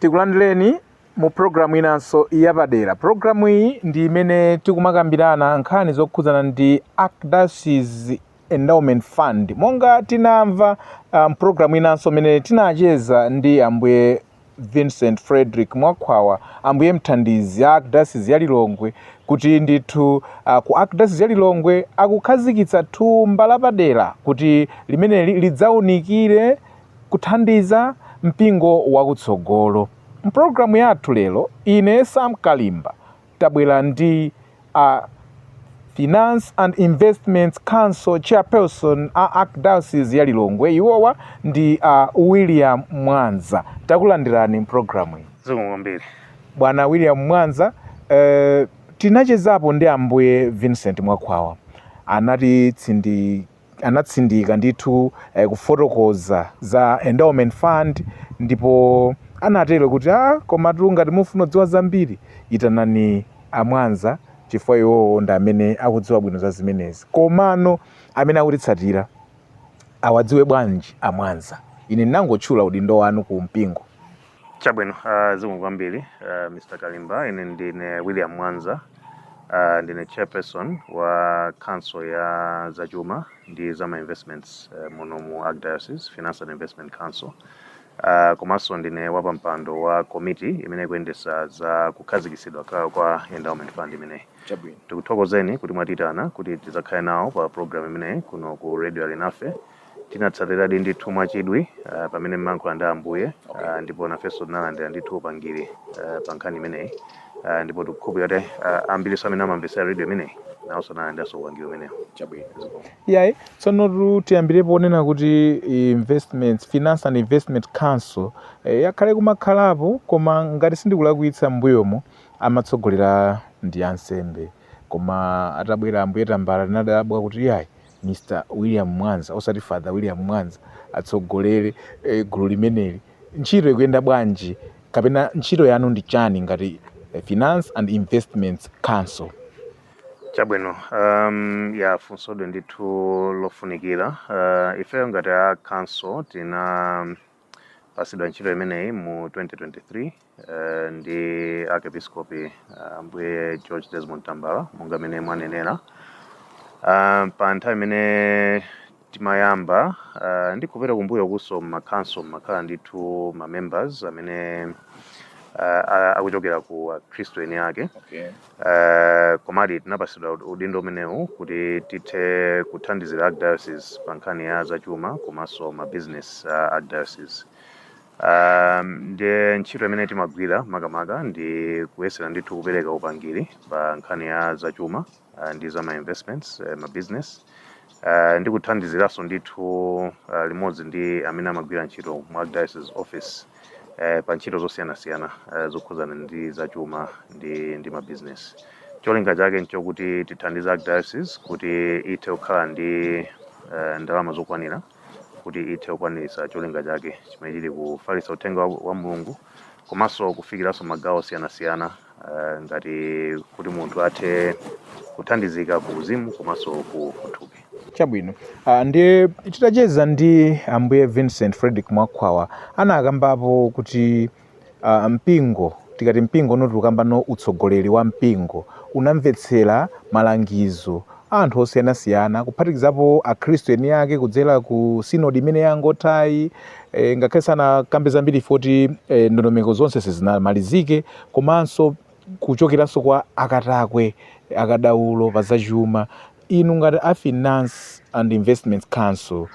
Tikulandireni mu program inanso yapadera. Program iyi ndi imene tikumakambirana nkhani zokhudzana ndi Archdiocese Endowment Fund. Monga tinamva um, program inanso imene tinacheza ndi ambuye Vincent Frederick Mwakhwawa, ambuye mthandizi a Archdiocese ya Lilongwe kuti ndithu uh, ku Archdiocese ya Lilongwe akukhazikitsa thumba lapadera kuti limeneli lidzaunikire Kuthandiza Mpingo Wakutsogolo. M'programu yathu lero, ine, Sam Kalimba, tabwera ndi a Finance and Investments Council Chairperson a Archdiocese ya Lilongwe, iwowa ndi a William Mwanza. Takulandirani m'programu iyi. Zikomo kwambiri. Bwana William Mwanza, eh, tinachezapo ndi Ambuye Vincent Mwakhwawa, anatsindika ndithu eh, kufotokoza za endowment fund ndipo anatero kuti a ah, komatu ngati mufuna kudziwa zambiri itanani amwanza chifukwa iwowo ndi amene akudziwa bwino za zimenezi komano amene akutitsatira awadziwe bwanji amwanza ine ndinangotchula udindo wanu ku mpingo Chabwino, uh, zikomo kwambiri uh, Mr. Kalimba. Ine ndine William Mwanza. Uh, ndine chairperson wa council ya zachuma ndi zama investments uh, muno mu Archdiocese Finance and Investment Council. Uh, komanso ndine wapampando wa komiti imene ikuyendesa za kukhazikisidwa kwa endowment fund imeneyi. Chabwino. Tikuthokozeni kuti mwatiitana kuti tizakhale nawo pa program imeneyi kuno ku Radio Alinafe. Tinatsatiradi ndithu mwachidwi uh, pamene mmankhula ndi Ambuye uh, ndipo nafenso tinalandira ndithu upangiri uh, pa nkhani imeneyi uh, ndipo tikukhulupirira kuti uh, ambirinso amene amamvetsera redio imeneyi nawonso analandiranso upangiri umenewu. Chabwino. Iyayi, tsonotu tiyambirepo ponena kuti investments finance and investment council eh, yakhale kumakhalapo koma ngati sindikulakwitsa m'mbuyomu amatsogolera ndi ansembe koma atabwera ambuye tambala tinadabwa kuti iyayi Mr William Mwanza osati Father William Mwanza atsogolele gulu limeneli ntchito ikuyenda bwanji kapena ntchito yanu ndi chani ngati Finance and Investments Council. Chabwino um ya funsoli ndithu lofunikila uh, ifeyo ngati a council tinapasidwa ntchito imeneyi mu 2023 Eh, ndi arkepiskopi ah, ambuye george desmond tambala monga mmene mwanenera Ah, pa nthawi imene timayamba ah, ndikupita kumbuyokunso mmakanso mmakhala ndithu ma members amene ah, a- akuchokera ku akhristu eni ake okay Eh, komadi tinapasidwa ud- udindo umenewu kuti tithe kuthandizira archdiocese pa nkhani ya zachuma komanso ma business uh, archdiocese Um, ndiye ntchito imene timagwira makamaka ndi kuyesera ndithu kupereka upangiri pa nkhani ya zachuma uh, ndi za ma investments uh, ma business uh, ndi kuthandiziranso ndithu uh, limodzi ndi amene amagwira ntchito mu archdiocese office uh, pa ntchito zosiyanasiyana uh, zokhudzana ndi zachuma ndi, ndi ma business cholinga chake nchokuti tithandize archdiocese kuti ithe kukhala ndi uh, ndalama zokwanira kuti ithe kukwaniritsa cholinga chake chimene chili kufalitsa uthenga wa, wa mulungu komanso kufikiranso magawo osiyanasiyana eh, ngati kuti munthu athe kuthandizika ku uzimu komanso ku ku thupi chabwino uh, ndiye titacheza ndi ambuye vincent frederick mwakhwawa anakambapo kuti Uh, mpingo tikati mpingo uno tikukambano utsogoleri wa mpingo unamvetsera malangizo a anthu osiyanasiyana kuphatikizapo akhristu eni ake kudzera ku sinodi imene yangothayi e, ngakhale sanakambe zambiri poti e, ndondomeko zonse sizinamalizike komanso kuchokeranso kwa akatakwe akadaulo pa zachuma inu ngati a finance and investments council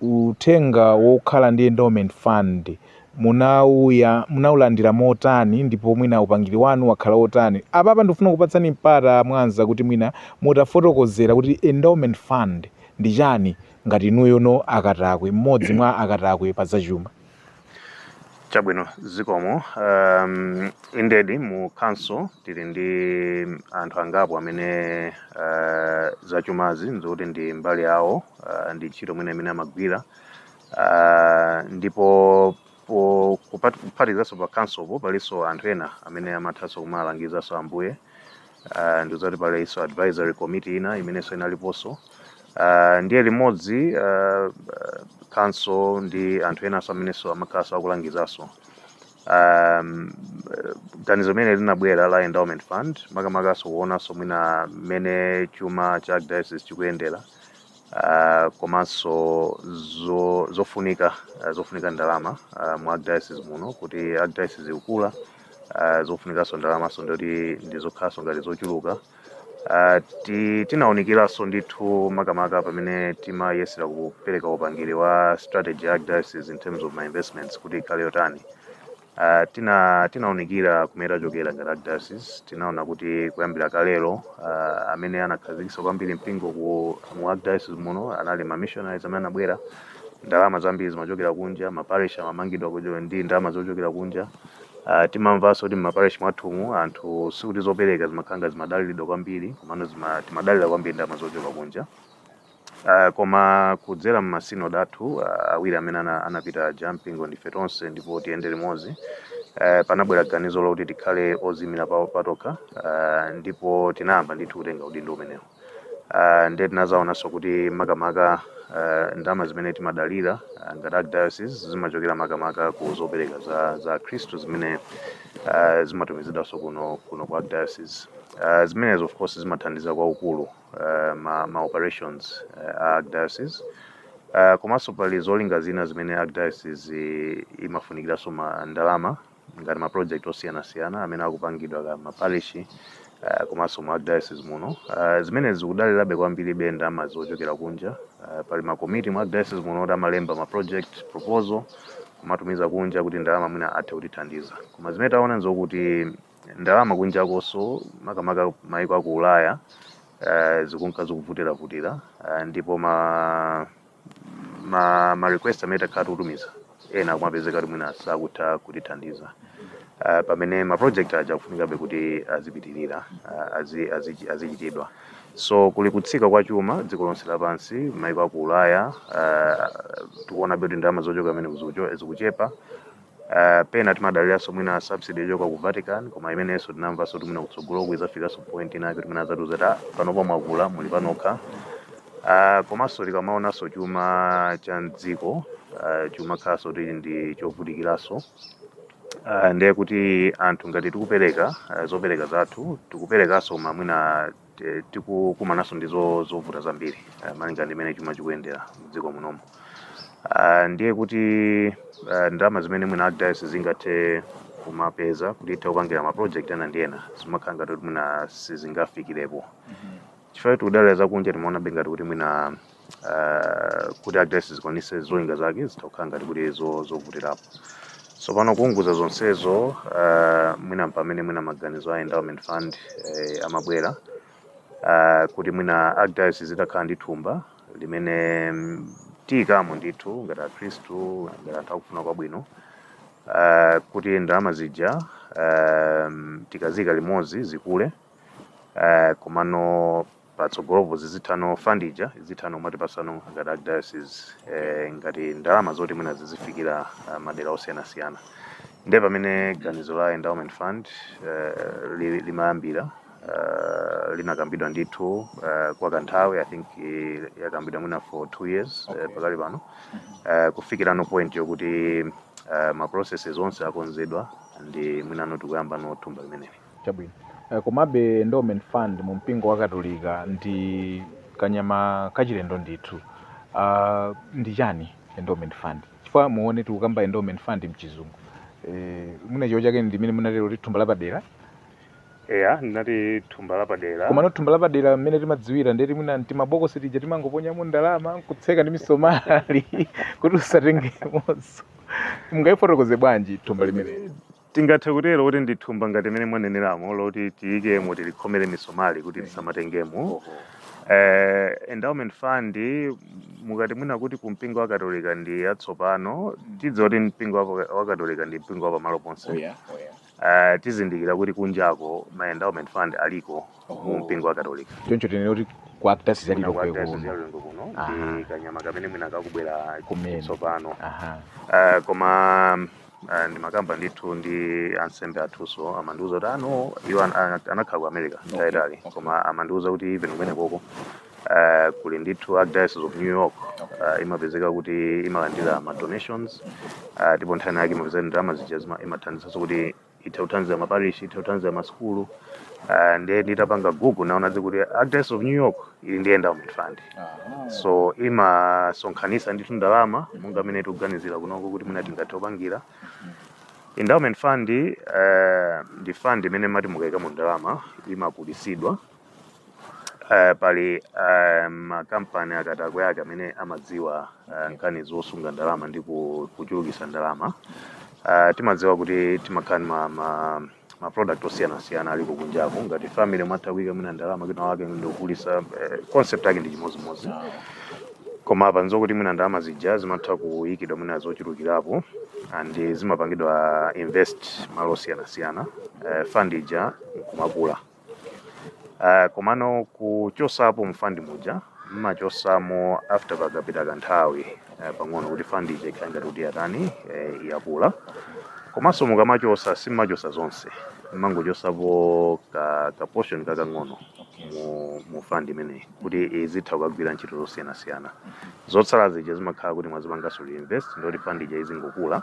Uthenga wokhala ndi endowment fund munauya munaulandira motani ndipo mwina upangiri wanu wakhala otani? Apapa ndikufuna kukupatsani mpata a Mwanza kuti mwina mutafotokozera kuti endowment fund ndi chani ngati inuyono akatakwe, mmodzi mwa akatakwe pa zachuma. Chabwino, zikomo. Um, indeed mu council tili ndi anthu angapo amene uh, zachumazi nzokuti ndi mbali yawo uh, ndi ntchito mwina imene amagwira uh, ndipo po- kupat- kuphatikizanso pa councilpo palinso anthu ena amene amathanso kumalangizaso ambuye uh, ndizoti palinso advisory committee ina imenenso inaliponso uh, ndiye limodzi uh, council ndi anthu enanso amenenso amakhalanso akulangizanso um, ganizo limene linabwera la endowment fund makamakanso kuonanso mwina mmene chuma cha archdiocese chikuyendera ah, komanso zo, zofunika ah, zofunika ndalama ah, mu archdiocese muno kuti archdiocese ikukula ah, zofunikanso ndalamanso ndoti ndizokhalanso ngati zochuluka Ah, ti- tinawunikiranso ndithu makamaka pamene timayesera kupereka upangiri wa strategy ya archdiocese in terms of ma investments kuti ikhale yotani Uh, tina tinaunikira kumene tachokera ngati Archdiocese tinaona kuti kuyambira kalelo uh, amene anakhazikitsa kwambiri mpingo ku mu Archdiocese muno anali ma missionaries amene anabwera ndalama zambiri zimachokera kunja maparish amamangidwa kuchokera ndi ndalama zochokera kunja uh, timamvanso kuti maparish mwathumu anthu sikuti zopereka zimakhala nga zimadaliridwa kwambiri komano zima- timadalira kwambiri ndalama zochoka kunja Koma kudzera m'ma synod athu awiri amene anapita aja, Mpingo Ndife Tonse ndipo Tiyende Limodzi, panabwera ganizo loti tikhale oziimira patokha ndipo tinayamba ndithu kutenga udindo umenewo. Ndiye tinazaonanso kuti makamaka ndalama zimene timadalira ngati Archdiocese zimachokera makamaka ku zopereka za Akhristu zimene zimatumizidwanso kuno ku Archdiocese. Zimenezi of course zimathandiza kwaukulu. uh, ma, ma operations uh, a archdiocese uh, komanso pali zolinga zina zimene archdiocese i- imafunikiranso ndalama ngati ma project osiyanasiyana amene akupangidwa m'ma parish uh, komanso mu archdiocese muno uh, zimene zikudalirabe kwambiri ndalama zochokera kunja uh, pali ma committee mu archdiocese muno oti amalemba ma project proposal kumatumiza kunja kuti ndalama mwina athe kutithandiza koma zimene taona nzokuti ndalama kunjakonso makamaka maiko aku ulaya uh, zikunka zikuvutiravutira uh, ndipo ma, ma, ma request amene takhala tikutumiza ena kumapezeka kuti mwina sakutha kutithandiza uh, pamene ma project aja akufunikabe kuti azipitirira uh, azi- azi- azichitidwa so kuli kutsika kwa chuma dziko lonse lapansi maiko aku ulaya uh, tikuonabe kuti ndalama zochoka kumene zikuchepa Uh, pena timadaliranso mwina subsidy yochoka ku Vatican koma imenenso tinamvanso kuti mwina kutsogoloku idzafikanso point inake kuti mwina adzatiuza kuti "Ah, panopa mwakula muli panokha uh, komanso tikamaonanso chuma cha mdziko uh, chimakhalanso kuti ndi chovutikiranso Uh, ndiye kuti anthu ngati tikupereka uh, zopereka zathu tikuperekanso ma mwina Te- tikukumananso ndi zo- zovuta zambiri eh, malinga ndi mmene chuma chikuyendera mdziko munomo Ah, ndiye kuti eh, ndalama zimene mwina archdiocese zingathe kumapeza kuti ithe kupangira ma project ena ndi ena zimakhala ngati kuti mwina sizingafikirepo chifukwa tikudalira zakunja timaonabe ngati kuti mwina ah, kuti archdiocese ikwanitse zolinga zake zitha kukhala ngati kuti zo- zovutirapo tsopano kuunguza zonsezo ah, mwina mpamene mwina maganizo a endowment fund eh, amabwera ah, kuti mwina archdiocese itakhala ndi thumba limene mm, tiyikamo ndithu ngati akhristu ngati anthu akufuna kwabwino ah, kuti ndalama zija ah, tikazika limodzi zikule eh, komano patsogolopo zizithano, fund ija izithano kumatipatsano ngati archdiocese eh, ngati ndalama zoti mwina zizifikira ah, madera osiyanasiyana ndiye pamene ganizo la endowment fund eh, li- limayambira eh, linakambidwa ndithu eh, kwa kanthawi i think eh, yakambidwa mwina for two years eh, pakali pano eh, kufikirano point yokuti eh, ma processes onse akonzedwa ndi mwina no tikuyamba no thumba limeneli Chabwino. Eh, komabe endowment fund mu mpingo wa Katolika ndi kanyama kachilendo ndithu. Uh, ndi chani endowment fund? Chifukwa mwaona tikukamba endowment fund mchizungu. Eh, mwina Chichewa chake ndi mmene munatero kuti thumba lapadera. Eya, ndinati thumba lapadera. Komano thumba lapadera mmene timadziwira ndeti mwina timabokosi tija timangoponyamo ndalama nkutseka ndi misomali kuti usatengemonso. Mungaifotokoze bwanji thumba limene? Tingathe kutero kuti ndi thumba ngati mmene mwaneneramo loti tiyikemo tilikhomere misomali kuti tisamatengemo. Oho. Eh, endowment fund m- mukati mwina kuti ku mpingo wa katolika ndi yatsopano tidziwa kuti mpingo wa- wa katolika ndi mpingo wa pamalo ponse Oya, oya. Eh, tizindikira kuti kunjako ma endowment fund aliko mu Oho. mpingo wa katolika Choncho tinene kuti ku Archdiocese ya Lilongwe kuno Aha. ndi kanyama kamene mwina kakubwera Kumene. tsopano Aha. Eh, koma Ah, ndimakamba ndithu ndi ansembe athunso amandiuza kuti ano iwo an- an- anakhala ku america nthawi yaitali koma amandiuza kuti even kumenekoko ah, kuli ndithu archdiocese of new york ah, imapezeka kuti imalandira ma donations ah, ndipo nthawi yake imapezeka ndalama zija zima- imathandizanso kuti itha kuthandiza maparish itha kuthandiza masukulu ah, ndiye nditapanga google ndaona kuti archdiocese of new york ili ndi endowment fund Aha. so imasonkhanisa ndithu ndalama monga mmene tikuganizira kunoko kuti mwina tingathe kupangira endowment fund eh, ndi fund imene mati mukaikamo ndalama imakulisidwa eh, pali eh, makampani akadakwe ake amene amadziwa eh, nkhani zosunga ndalama ndi ku- kuchulukisa ndalama Eh, timadziwa kuti timakhala ndi ma, ma, ma product osiyanasiyana aliko kunjako ngati family mmatha kuyika mwina ndalama kwinakwake ndikukulisa eh, concept yake ndi chimodzimodzi koma apa nzokuti mwina ndalama zija zimatha kuyikidwa mwina zochulukirapo and zimapangidwa invest malo osiyanasiyana eh, fund ija nkumakula Ah, komano kuchosapo mu fund muja mmachosamo after pakapita kanthawi eh, pang'ono kuti fund ija ikhale ngati kuti yatani eh, yakula komanso mukamachosa simmachosa zonse mmangochosapo ka, ka portion kakang'ono mu, mu fund imeneyi kuti izitha kukagwira ntchito zosiyanasiyana zotsala zija zimakhala kuti mwazipanganso reinvest ndoti fund ija izingokula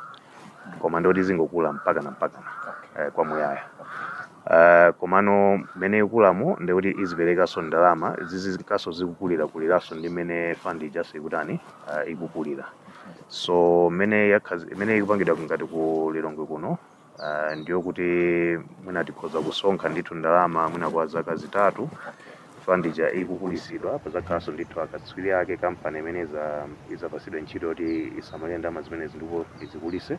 koma ndoti izingokula mpakana mpakana eh, kwa muyaya Uh, komano mmene ikukulamu ndikuti iziperekaso ndalama zizinkaso zikukulira kuliraso ndi mmene fund ijaso ikutani uh, ikukulira so mmene yakhazi- mmene ikupangidwa ngati ku lilongwe kuno uh, ndiyo kuti mwina tikhoza kusonkha ndithu ndalama mwina kwa zaka zitatu fund ija ikukulitsidwa pazakhalanso ndithu akatswiri ake kampani imene iza- izapasidwa ntchito yoti isamalire ndalama zimenezi ndipo izikulise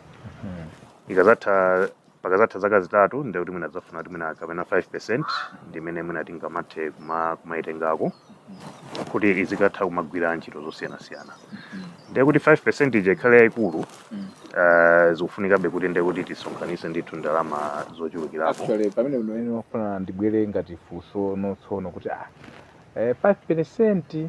ikazatha pakazatha zaka zitatu ndekuti mwina tidzafuna kuti mwina kapena 5% ndi imene mwina tingamathe kuma- kumayitengako kuti izikatha kumagwira ntchito zosiyanasiyana ndekuti 5% ija ikhale yayikulu eh, zikufunikabe kuti ndekuti tisonkhanise ndithu ndalama zochulukirapo actually pamene ndinene ndafuna ndibwere ngati funso ndotsono kuti ah eh, 5%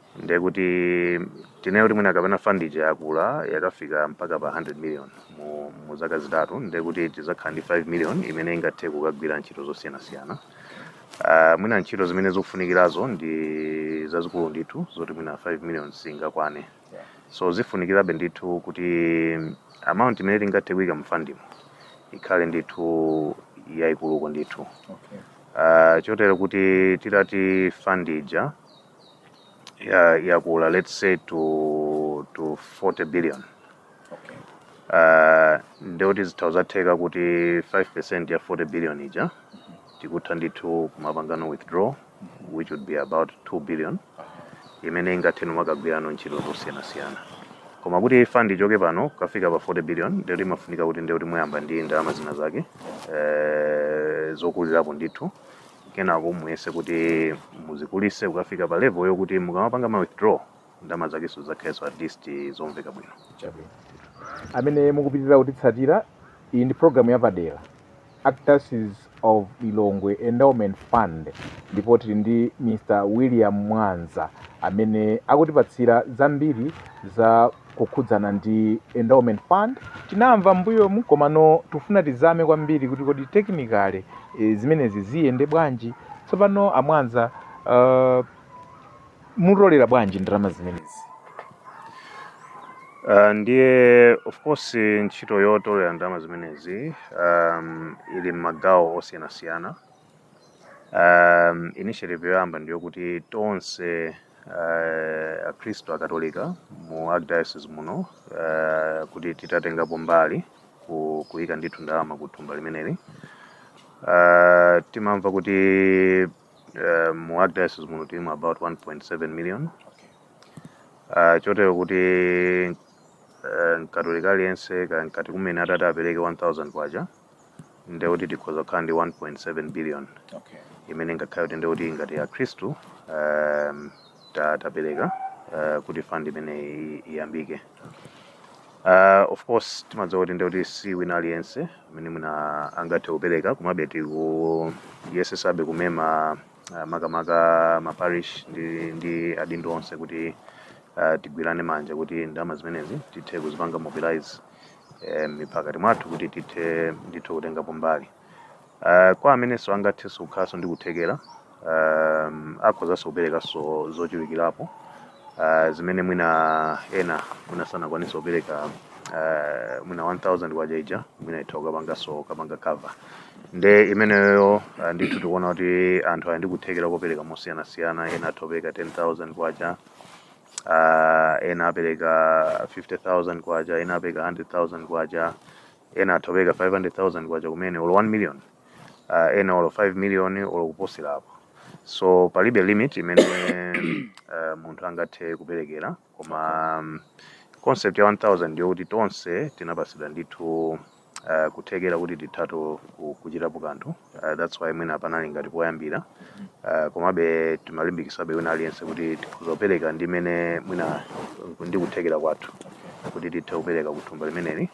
ndiye kuti tinene kuti mwina kapena fund ija yakula yakafika mpaka pa 100 million mu, mu zaka zitatu ndiye kuti tizakhala ndi 5 million imene ingathe kukagwira ntchito zosiyanasiyana uh, mwina ntchito zimene zofunikirazo ndi zazikulu ndithu zoti mwina 5 million singakwane so zifunikirabe ndithu kuti amount imene tingathe kuika mfandimo ikhale ndithu yaikuluko ndithu okay. uh, chotero kuti titati fund ija ya- yakula let's say to to 40 billion okay uh, ndekuti zitha zatheka kuti 5% ya 40 billion ija tikutha ndithu kumapangano withdraw which would be about 2 billion imene ingathe kumakagwirano ntchito zosiyanasiyana koma kuti fund ichoke pano kafika pa 40 billion ndekuti imafunika kuti ndekuti muyamba ndi ndalama zina zake eh, zokulirapo ndithu kenako muyese kuti muzikulise kukafika pa level yokuti mukamapanga ma withdraw ndalama zakenso zakhalenso at least zomveka bwino Chabwino. amene mukupitirira kutitsatira iyi ndi programu yapadera archdiocese of lilongwe endowment fund ndipo tili ndi mr william mwanza amene akutipatsira zambiri za kukhudzana ndi endowment fund tinamva m'mbuyomu komano tufuna tizame kwambiri kuti kodi technically e, zimenezi ziyende bwanji tsopano a mwanza uh, mutolera bwanji ndalama zimenezi Uh, ndiye of course ntchito yotolera ndalama zimenezi um, ili m'magawo osiyanasiyana Um, initiative yoyamba ndiyo kuti tonse uh, akhristu akatolika mu archdiocese muno uh, kuti titatengapo mbali ku- kuyika ndithu ndalama ku thumba limeneli uh, timamva kuti uh, mu archdiocese muno tilimu about 1.7 million uh, chotero kuti uh, mkatolika aliyense ka- ngati kumene atati apereke 1000 kwacha ndiye kuti tikhoza kukhala ndi 1.7 billion okay imene ingakhale kuti ndikuti ngati akhristu um, ta- tapereka uh, kuti fund imene i- iyambike uh, of course timadziwa kuti ndikuti si wina aliyense amene mwina angathe kupereka komabe tikuyesesabe kumema uh, makamaka maparish ndi, ndi adindo onse kuti uh, tigwirane manja kuti ndalama zimenezi tithe kuzipanga mobilize eh, ndi pakati mwathu kuti tithe ndithu kutengapo mbali Eh, kwa amenenso angathenso kukhalanso ndi kuthekera um, akhozanso kuperekanso zochulukirapo uh, zimene mwina ena mwina sanakwanisa kupereka uh, mwina 1000 kwacha ija mwina itha kukapanganso kapanga cover nde imeneyo uh, ndithu tikuona kuti anthu ali ndi kuthekera kopereka mosiyanasiyana ena atha kupereka 10000 kwacha uh, ena apereka 50000 kwacha ena apereka 100000 kwacha ena atha kupereka 500000 kwacha kumene olo 1 million uh, ena olo 5 million olo kuposerapo so palibe limit imene uh, munthu angathe kuperekera koma um, concept ya 1000 ndiyo kuti tonse tinapatsidwa ndithu uh, kuthekera kuti tithatu kuchitapo kanthu uh, that's why mwina panali ngati poyambira uh, komabe timalimbikisabe wina aliyense kuti tikhoza kupereka ndi mmene mwina ndi kuthekera kwathu kuti tithe kupereka kuthumba limeneli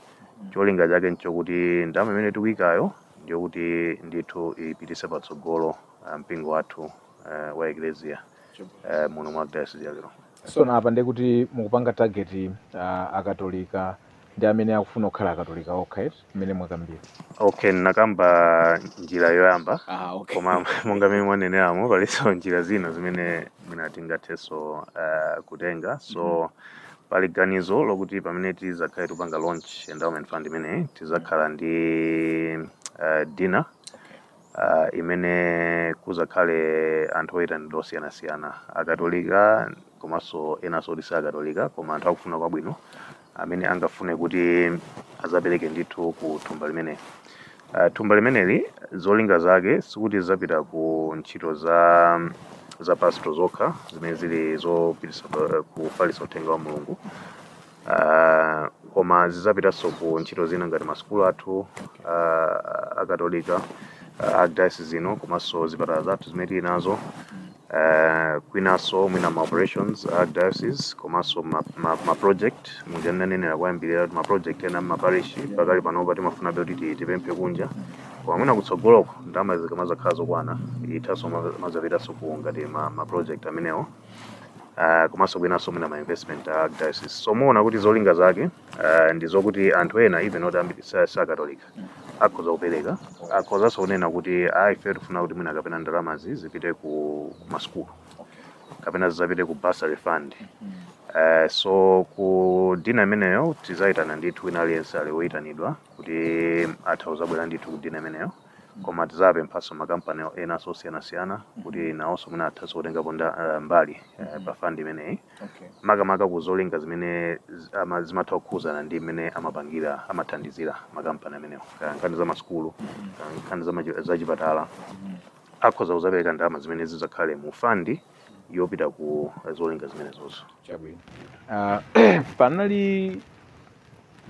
cholinga chake nchokuti ndalama imene tikuyikayo ndiyokuti ndithu ipitise patsogolo uh, mpingo wathu uh, wa eklesia uh, muno mwa dayosizi ya lilongwe so napa ndekuti mukupanga target uh, akatolika ndi amene akufuna kukhala akatolika okha mmene mwakambira okay nakamba njira yoyamba ah, okay. koma monga mmene mwaneneramo palinso njira zina zimene mwina tingathenso uh, kutenga so mm -hmm. pali ganizo lokuti pamene tizakhale tupanga launch endowment fund imeneyi tizakhala ndi uh, dinner imene kudzakhale anthu oyitanidwa osiyanasiyana, Akatolika komanso enanso oti si Akatolika koma anthu akufuna kwabwino amene angafune kuti adzapereke ndithu ku thumba limeneli. Ah, Thumba limeneli zolinga zake sikuti zidzapita ku ntchito za za pastoral zokha zimene zili zopititsa pa- kufalitsa uthenga wa Mulungu uh, koma zizapitaso ku ntchito zina ngati masukulu athu uh, akatolika uh, archdiocese zino komanso zipatala zathu zimene tili nazo uh, kwinaso mwina ma operations archdiocese komanso ma, ma, ma project muja ndanenera kuyambirira ma project ena mmaparishi pakali panopa timafunabe kuti ti- tipemphe kunja koma mwina kutsogoloko ndalama zikamazakhala zokwana ithaso mazapitaso ku ngati ma, ma project amenewo uh, komanso kwinanso mwina ma investment a diocese so muona kuti zolinga zake uh, ndi zokuti anthu ena even oti ambiri sa- si akatolika akhoza kupereka akhozanso kunena kuti a ife tifuna kuti mwina kapena ndalamazi zipite ku ku masukulu kapena zizapite ku bursary fund Eh, so ku dinner imeneyo tizayitana ndithu wina aliyense ali woyitanidwa kuti atha kuzabwera ndithu ku dinner imeneyo Koma tizapemphanso ma company enanso osiyanasiyana kuti nawonso mwina athanso kutengapo nda- eh, mbali eh, pa fund imeneyi Okay. makamaka ku zolinga zimene zi- ama- zimatha kukhuzana ndi mmene amapangira amathandizira makampani amenewo Kaya nkhani za masukulu kaya nkhani za machi- za chipatala akhoza kuzapereka ndalama zimene zidzakhale mu fandi yopita ku zolinga zimenezozo Chabwino. Ah, panali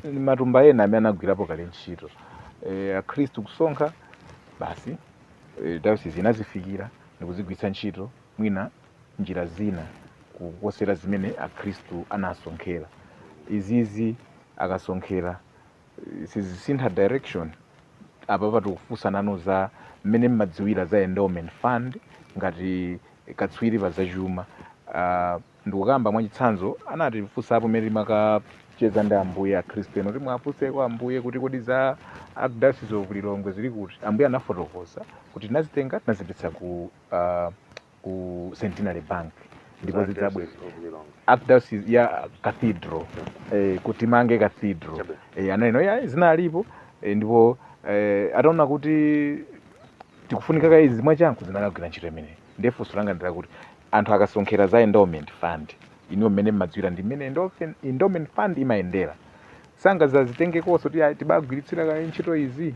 ndi matumba ena amene anagwirapo kale ntchito e, akhristu kusonkha basi e, dayosisi inazifikira ndikuzigwiritsa ntchito mwina njira zina kuposera zimene akhristu anasonkhera izizi akasonkhera e, sizisintha direction apa pa tikufunsani inu za mmene mmadziwira za endowment fund ngati katswiri pa zachuma uh, Ndikukamba mwachitsanzo, anatifunsapo mmene timakacheza ndi Ambuye, Akhristu ena kuti muwafunseko Ambuye kuti kodi za Archdiocese of Lilongwe zili kuti? Ambuye anafotokoza kuti tinazitenga tinazipititsa ku ah, ku Centenary Bank ndipo Za zidzabwera Diocese of Lilongwe. archdiocese ya cathedral eh, kuti timange cathedral Chabe. eh, ananena ayi zinalipo eh, ndipo eh, ataona kuti tikufunika kaye izi mwachangu zinakagwira ntchito imeneyi Ndiye funso langa ndi lakuti anthu akasonkhera za endowment fund, inuyo mmene mmadziwira ndi mmene endofen- endowment fund imayendera, sangazazitengekonso kuti "Ayi, tibagwiritsira kaye ntchito izi?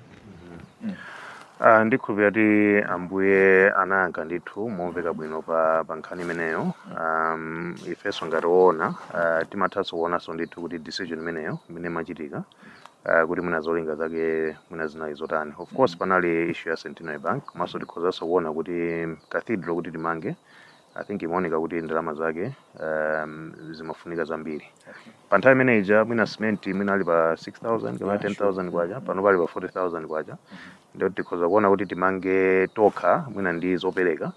Ah, ndikhulupira kuti ambuye anayankha ndithu momveka bwino pa, pa nkhani imeneyo um, ifenso ngati woona uh, timathanso kuonanso ndithu kuti decision imeneyo imene imachitika uh, kuti mwina zolinga zake mwina zinali zotani of course mm. panali issue ya centenary bank komanso tikhozanso kuona kuti mm, cathedral kuti timange i think imaoneka kuti ndalama zake um, zimafunika zambiri okay. pa nthawi imene ija mwina cement mwina ali pa 6000 kapena 10000 kwacha pano ali pa 40000 kwacha mm -hmm. nde tikhoza kuona kuti timange tokha mwina ndi zopereka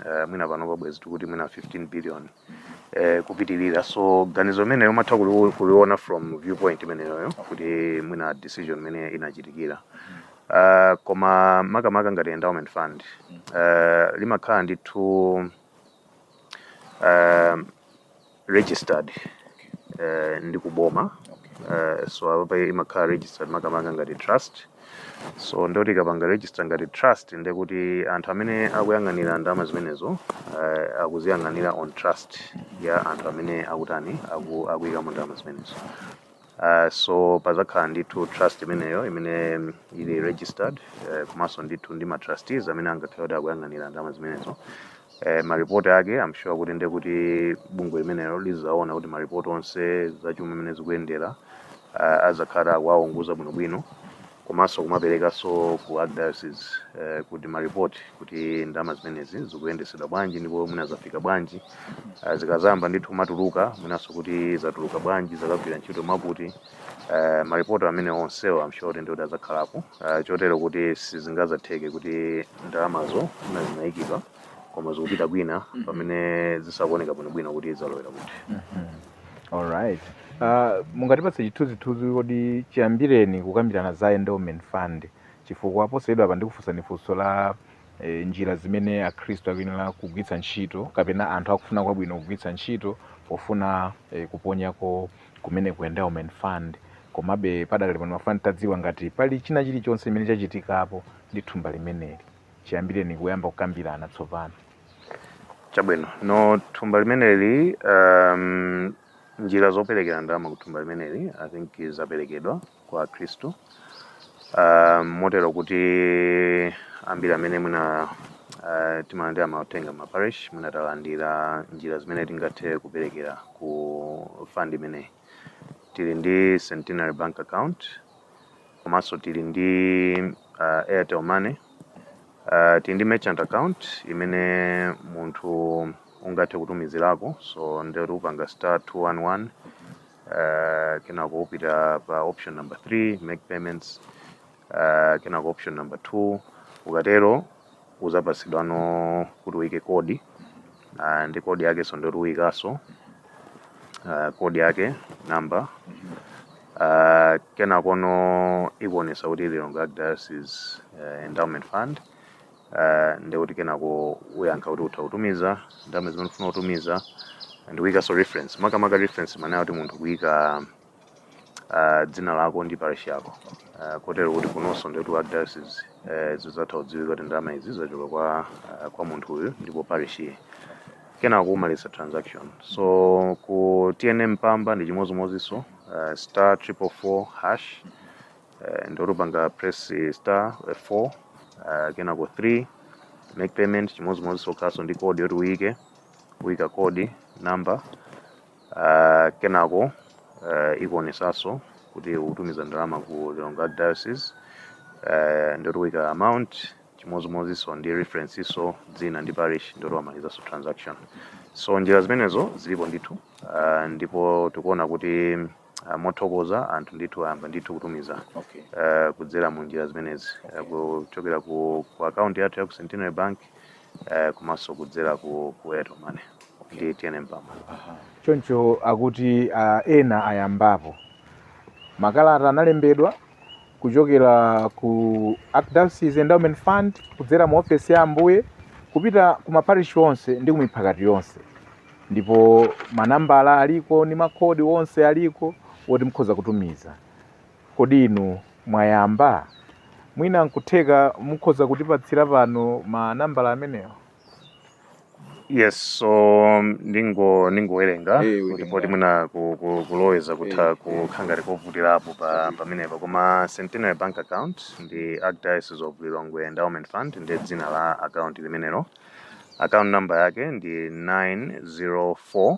uh, mwina pano bwezi tikuti mwina 15 billion eh, kupitirira so ganizo limenelo umatha kuli- kuliona from viewpoint imeneyoyo kuti mwina decision imene inachitikira uh, koma makamaka ngati endowment fund uh, limakhala ndithu um, registered uh, ndi kuboma uh, so apa imakhala registered makamaka ngati trust so nde tikapanga register ngati trust nde kuti anthu amene akuyang'anira ndalama zimenezo uh, akuziyang'anira on trust ya anthu amene akutani aku, akuyikamo ndalama zimenezo Uh, so pazakhala ndithu trust imeneyo imene mm, ili registered uh, komanso ndithu ndi ma trustees amene angakhale kuti akuyang'anira ndalama zimenezo eh, ma report ake I'm sure kuti nde kuti bungwe limenelo lizaona kuti ma report onse za chuma mmene zikuyendera uh, azakhala akuwaunguza bwinobwino komanso kumaperekanso ku archdiocese eh, kuti ma report kuti ndalama zimenezi zikuyendesedwa bwanji ndipo mwina zafika bwanji uh, zikazamba ndithu kumatuluka mwinanso kuti zatuluka bwanji zakagwira ntchito mwakuti eh, maripoti amene onsewo I'm sure kuti ndiwoti adzakhalapo eh, chotero kuti sizingazatheke kuti ndalamazo mwina zinayikidwa koma zikupita kwina pamene zisakuoneka bwinobwino kuti zalowera kuti alright uh, mungatipatse chithunzithunzi kodi chiyambireni kukambirana za endowment fund chifukwa posachedwapa ndikufunsani funso la eh, njira zimene akhristu akuyenera kugwiritsa ntchito kapena anthu akufuna kwabwino kugwiritsa ntchito pofuna eh, kuponyako kumene ku endowment fund komabe padakali pano ndimafuna nditadziwa ngati pali china chilichonse chimene chachitikapo ndi thumba limeneli chiyambireni kuyamba kukambirana tsopano chabwino nde thumba limeneli um, njira zoperekera ndalama ku thumba limeneli i think zaperekedwa kwa akhristu. Uh, motero kuti ambiri amene mwina uh, timalandira mauthenga m'ma parish mwina talandira njira zimene tingathe kuperekera ku fund imeneyi. Tili ndi Centenary Bank account komanso tili ndi uh, Airtel Money uh, tili ndi merchant account imene munthu ungathe kutumizirako so ndikuti upanga star 211 uh, kenako upita pa option number 3 make payments uh, kenako option number 2 ukatero uzapatsidwano kuti uike code uh, ndi code yake so ndoti uikaso uh, code yake number uh, kenakono ikuonesa kuti lilongwe archdiocese uh, endowment fund Uh, ndekuti kenako uyankha kuti utha kutumiza ndalama zimene ufuna kutumiza ndikuyikanso reference makamaka reference manena kuti munthu kuyika uh, dzina lako ndi parish yako uh, kotero kuti kunonso ndikuti archdiocese uh, zidzatha kudziwika kuti ndalama izi zachoka kwa, uh, kwa munthu uyu ndipo parish iyi kenako umaliza transaction so ku tnm mpamba ndi chimodzimodzinso uh, star triple four hash eh, ndoti upanga press star 4 uh, kenako 3 make payment chimodzimodzinso ukhalaso ndi code yoti uyike uyika code number uh, kenako uh, ikuonesaso kuti ukutumiza ndalama ku lilongwe archdiocese uh, ndoti uyika amount chimodzimodzinso ndi reference nso dzina ndi parish ndoti wamalizaso transaction so njira zimenezo zilipo ndithu uh, ndipo tikuona kuti Ah, mothokoza anthu ndithu ayamba ndithu kutumiza okay. uh, kudzera mu njira zimenezi okay. uh, kuchokera ku, ku akaunti yathu ya ku Centenary Bank uh, komanso kudzera ku, ku Airtel Money okay. ndi TNM Mpamba choncho atakuti uh, ena ayambapo makalata analembedwa kuchokera ku Archdiocese Endowment Fund kudzera mu ofesi ya Ambuye kupita ku maparishi onse ndi ku miphakati yonse ndipo manambala aliko ndi makodi onse aliko woti mukhoza kutumiza kodi inu mwayamba mwina nkutheka mukhoza kutipatsira pano manambala amenewo yes so um, ndingo ndingowerenga Eh, kuti poti mwina ku- ku- kuloweza kutha Eh, kukhala ngati kovutirapo pa pamenepo koma centenary bank account ndi archdiocese of lilongwe endowment fund ndi dzina la account limenero account number yake ndi 904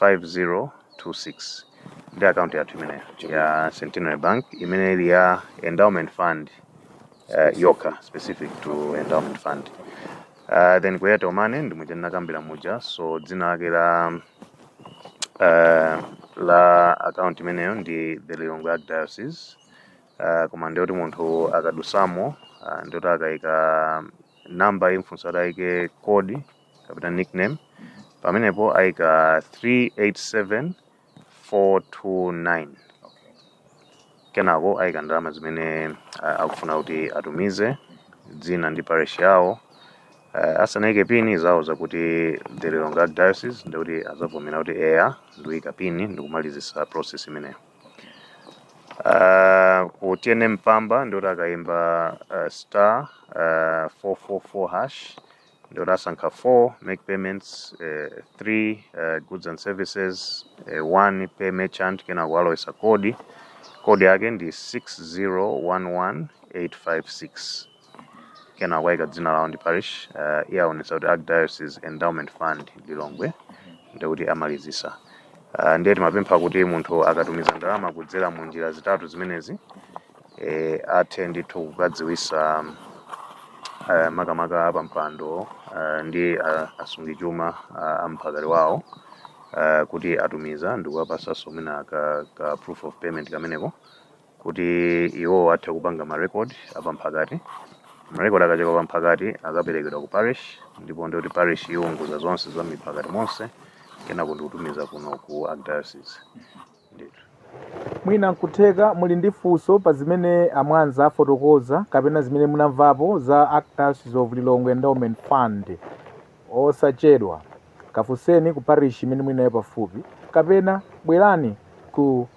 5026 ndi akaunti yathu imeneyo ya Centenary Bank imene ili ya endowment fund uh, yokha specific to endowment fund uh, then ku Airtel Money ndi muja ndinakambira muja so dzina lake la uh, la akaunti imeneyo ndi the Lilongwe Archdiocese uh, koma ndiyoti munthu akadutsamo uh, ndiyoti akaika namba imufunsa ataike kodi kapena nickname pamenepo aika 387429 kenako aika ndalama zimene ah, akufuna kuti atumize dzina ndi parish yawo uh, asanaike pini izawauza kuti the Lilongwe Archdiocese ndikuti azavomera kuti eya ndikuika pini ndikumalizisa process imeneyo uh, ku tnm mpamba ndikuti akaimba uh, star uh, 444 hash ndi kuti asankha 4 make payments eh, 3 eh, goods and services eh, 1 pay merchant kenako alowesa kodi kodi yake ndi 6011856 kenako ayika dzina lawo ndi parish eh, iyo iwonetsa kuti archdiocese endowment fund lilongwe ndi kuti amalizisa uh, ndiye timapempha kuti munthu akatumiza ndalama kudzera mu njira zitatu zimenezi athe ndithu kukadziwisa makamaka apampando ndi asungichuma a mphakati wawo kuti atumiza ndikuwapatsanso mwina ka, ka proof of payment kameneko kuti iwo athe kupanga ma record apamphakati marecord akachoka pamphakati akaperekedwa ku parish ndipo ndikuti parish iwunjika zonse za miphakati monse kenako ndikutumiza kuno ku archdiocese Mwina nkutheka muli ndi funso pa zimene a Mwanza afotokoza kapena zimene munamvapo za Archdiocese of Lilongwe Endowment Fund. Osachedwa, kafunseni ku parish imene muli nayo pafupi kapena bwerani ku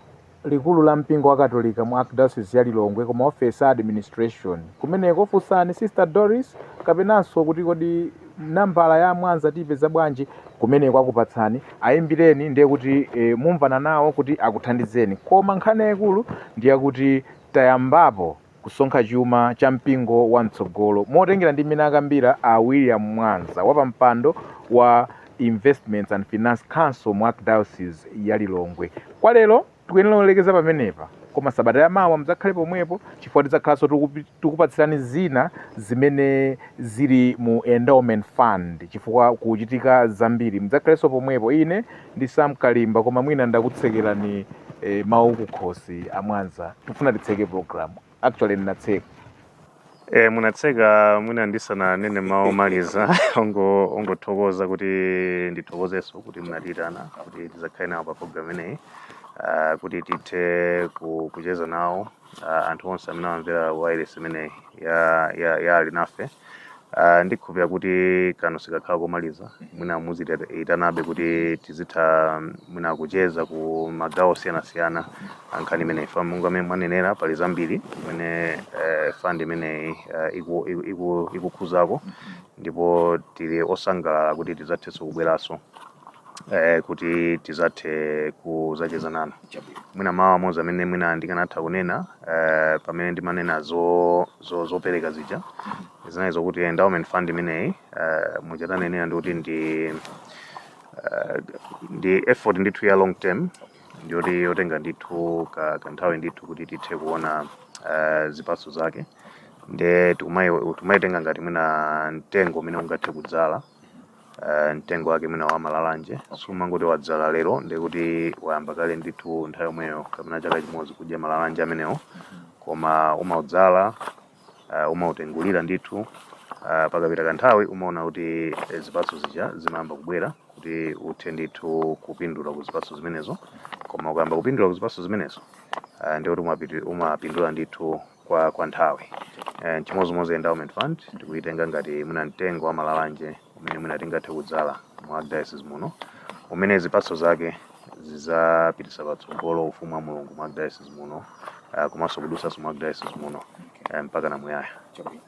likulu la mpingo wa Katolika mu Archdiocese ya Lilongwe ku maofesi a administration kumeneko. Funsani Sister Doris kapenanso kuti kodi. nambala ya a mwanza tiipeza bwanji? kumeneko akupatsani ayimbireni ndiye kuti e, mumvana nawo kuti akuthandizeni koma nkhani yayikulu ndiyakuti tayambapo kusonkha chuma cha mpingo wa mtsogolo motengera ndi mmene akambira a william mwanza wapampando wa investments and finance council mu archdiocese ya lilongwe kwa lero Tikuyenera kulekeza pamenepa, koma sabata ya mawa mudzakhale pomwepo chifukwa tidzakhalanso tikupatsirani zina zimene zili mu endowment fund chifukwa kukuchitika zambiri. Mudzakhalenso pomwepo. Ine ndi Sam Kalimba koma mwina ndakutsekerani eh, mawu kukhosi a Mwanza. Tikufuna titseke program. Actually ndinatseka. E, munatseka mwina ndisananene mawu omaliza ongo- ongothokoza kuti ndithokozenso kuti munatiitana kuti tizakhale nawo pa program imeneyi ah, kuti tithe ku- kucheza nawo ah, anthu onse amene amamvera wailesi imeneyi ya, ya, ya alinafe Ah, ndikhulupirira kuti kano sikakhala komaliza mwina muziitanabe kuti tizitha mm, mwina kucheza ku magawo osiyanasiyana ankhani imeneyi chifukwa monga mmene mwanenera pali zambiri imene eh, fund imeneyi eh, iku- iku- iku- ikukhuzako ndipo tili osangalala kuti tidzathenso kubweranso eh, kuti tizathe kuzacheza nanu mwina mawu amodzi amene mwina ndikanatha kunena eh, pamene ndimanena zo- zo- zopereka zija zinali zokuti endowment fund imeneyi eh, muja tanenera ndikuti ndi eh, ndi effort ndithu ya long term ndiyoti yotenga ndithu ka kanthawi ndithu kuti tithe kuona uh, zipatso zake nde tikumai- timaitenga ngati mwina mtengo umene ungathe kudzala uh, mtengo wake mwina wa malalanje sumangoti wadzala lero ndekuti wayamba kale ndithu nthawi yomweyo kapena chaka chimodzi kudya malalanje amenewo koma umaudzala uh, umautengulira ndithu uh, pakapita kanthawi umaona kuti zipatso zija zimayamba kubwera kuti uthe ndithu kupindula ku zipatso zimenezo koma ukayamba kupindula ku zipatso zimenezo uh, ndiye kuti umapiti- umapindula ndithu kwa, kwa nthawi uh, chimodzimodzi endowment fund tikuyitenga ngati mwina mtengo wa malalanje umene mwina tingathe kudzala mu archdiocese muno umene zipatso zake zidzapititsa patsogolo ufumu wa mulungu mu archdiocese muno uh, komanso kudutsanso mu archdiocese muno uh, mpaka na muyaya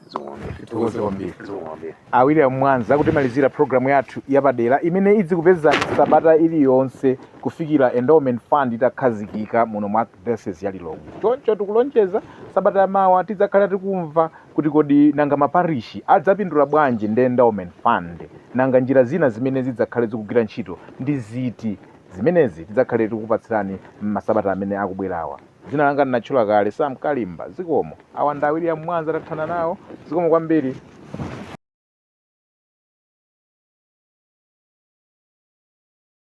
zikomo kwambiri tithokoze kwambiri zikomo kwambiri a william mwanza kutimalizira programu yathu yapadera imene idzikupezani sabata iliyonse kufikira endowment fund itakhazikika muno mu arch Diocese ya Lilongwe. Choncho tikulonjeza sabata yamawa tidzakhala tikumva kuti kodi nanga maparishi adzapindula bwanji ndi endowment fund, nanga njira zina zimene zidzakhale zikugwira ntchito ndi ziti. Zimenezi tidzakhale tikupatsirani m'masabata amene akubwerawa. Dzina langa ndinatchula kale, Sam Kalimba. Zikomo. Awa ndi a William Mwanza tathana nawo. Zikomo kwambiri.